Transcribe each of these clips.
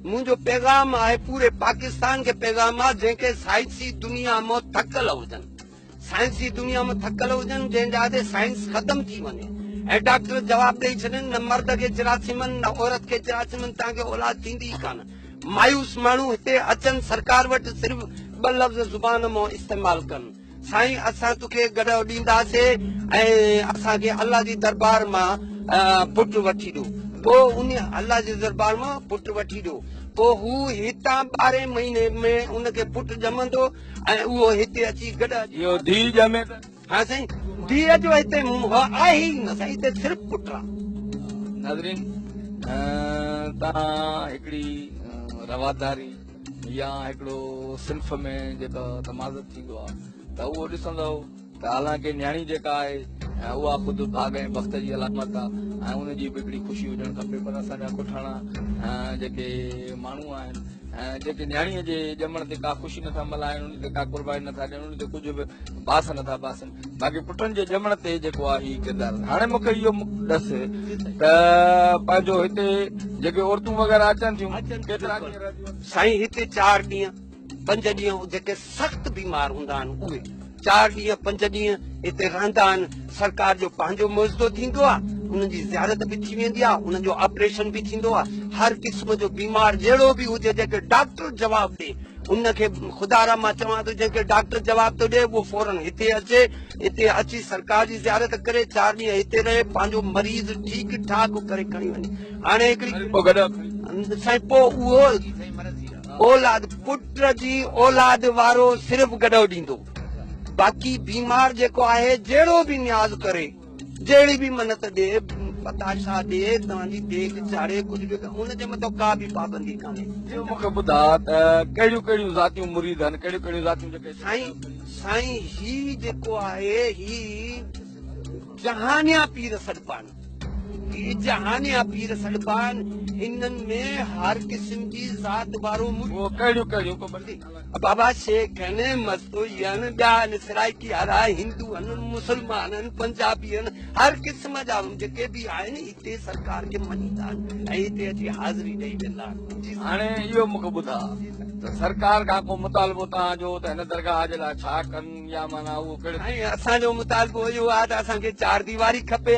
منهنجو پيغام آهي پوري پاڪستان کي پيغام آهي جنهن کي سائنسي دنيا مان ٿڪل هجن سائنسي دنيا مان ٿڪل هجن جنهن جا تي سائنس ختم ٿي وڃي ۽ ڊاڪٽر جواب ڏئي ڇڏين نه مرد کي جراثيمن نه عورت کي جراثيمن تان کي اولاد ٿيندي ئي ڪانه مايوس ماڻهو هتي اچن سرڪار وٽ صرف ٻه لفظ زبان مان استعمال ڪن سائين اسان توکي گڏهه ڏينداسي ۽ اسان کي الله جي دربار مان پٽ وٺي ڏو پوء ان الله جي دربار مان پٽ وٺي ڏو پوء هو هتان ٻارهين مهيني ۾ ان کي پٽ ڄمندو ۽ اهو هتي اچي گڏهه اهو ڌيء ڄمي ته ها سائين ڌيء جو هتي منهن آهي ئي نه سائين هتي صرف پٽ آ ناظرين تان هڪڙي رواداري يا هڪڙو صنف ۾ جيڪو تمازت ٿيندو آهي ته اهو ڏسندؤ ته حالانڪه نياڻي جيڪا آهي اها خود ڀاڳ ۽ بخت جي علامت آهي ۽ ان جي به هڪڙي خوشي هجڻ کپي پر اسان جا ڪٺاڻا جيڪي ماڻهو آهن جيڪي نياڻي جي ڄمڻ تي ڪا خوشي نٿا ملهائن ان تي ڪا قرباني نٿا ڏين ان تي ڪجهه به باس نٿا باسن باقي پٽن جي ڄمڻ تي جيڪو آ هي ڪردار هاڻي مون کي اهو ڏس ته پنهنجو هتي جيڪي عورتون وغيره اچن ٿيون ڪيترا ڏينهن رهنديون آهن سائين هتي چار ڏينهن پنج ڏينهن جيڪي سخت بيمار هوندا آهن اهي چار ڏينهن پنج ڏينهن هتي رهندا آهن سرڪار جو پنهنجو معزدو ٿيندو آهي انهن جي زيارت به ٿي ويندي آهي انهن جو آپريشن به ٿيندو آهي هر قسم جو بيمار جهڙو به هجي جيڪي ڊاڪٽر جواب ڏي ان کي خدا را مان چوان ٿو جنهن کي ڊاڪٽر جواب ٿو ڏي اهو فورن هتي اچي هتي اچي سرڪار جي زيارت ڪري چار ڏينهن هتي رهي پنهنجو مريض ٺيڪ ٺاڪ ڪري کڻي وڃي هاڻي هڪڙي سائين پو اهو اولاد پٽ جي اولاد وارو صرف گڏو ڏيندو باقي بيمار جيڪو آهي جهڙو به نياز ڪري جهڙي به منت ڏي، پتاشا ڏي، توهان جي ديڳ چاڙهي، ڪجهه به ڪر، ان جي مٿان ڪا به پابندي ڪانهي. ٻيو مون کي ٻڌاء ته ڪهڙيون ڪهڙيون ذاتيون مريد هن، ڪهڙيون ڪهڙيون ذاتيون جيڪي. سائين، سائين هي جيڪو آهي هي جهانيان پير سڏبان، هي جهانيان پير سڏبان، هنن ۾ هر قسم جي ذات وارو مريد. اهو ڪهڙيون ڪهڙيون؟ ڪو بندي. بابا شيخ هن مستوئين ٻيا هن سرائيڪي وارا هندو هن مسلمان هن پنجابي هن هر قسم جا جيڪي به آهن هتي سرڪار کي مڃيندا آهن ۽ هتي اچي حاضري ڏيئي ويندا آهن هاڻي اهو مونکي ٻڌا ته سرڪار کان ڪو مطالبو تان جو ته هن درگاهه جي لاء ڇا ڪن يا معنيٰ اهو ڪهڙي اسان جو مطالبو اهو آهي ته اسان کي چار ديواري کپي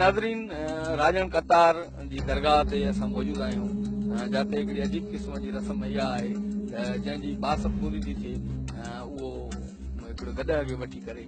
ناظرين راڄڻ قطار جي درگاهه تي اسان موجود آهيون جاتي هڪڙي عجيب قسم جي رسم اها آهي جنهن جي باسط پوري ٿي ٿئي اهو هڪڙو گڏهه کي وٺي ڪري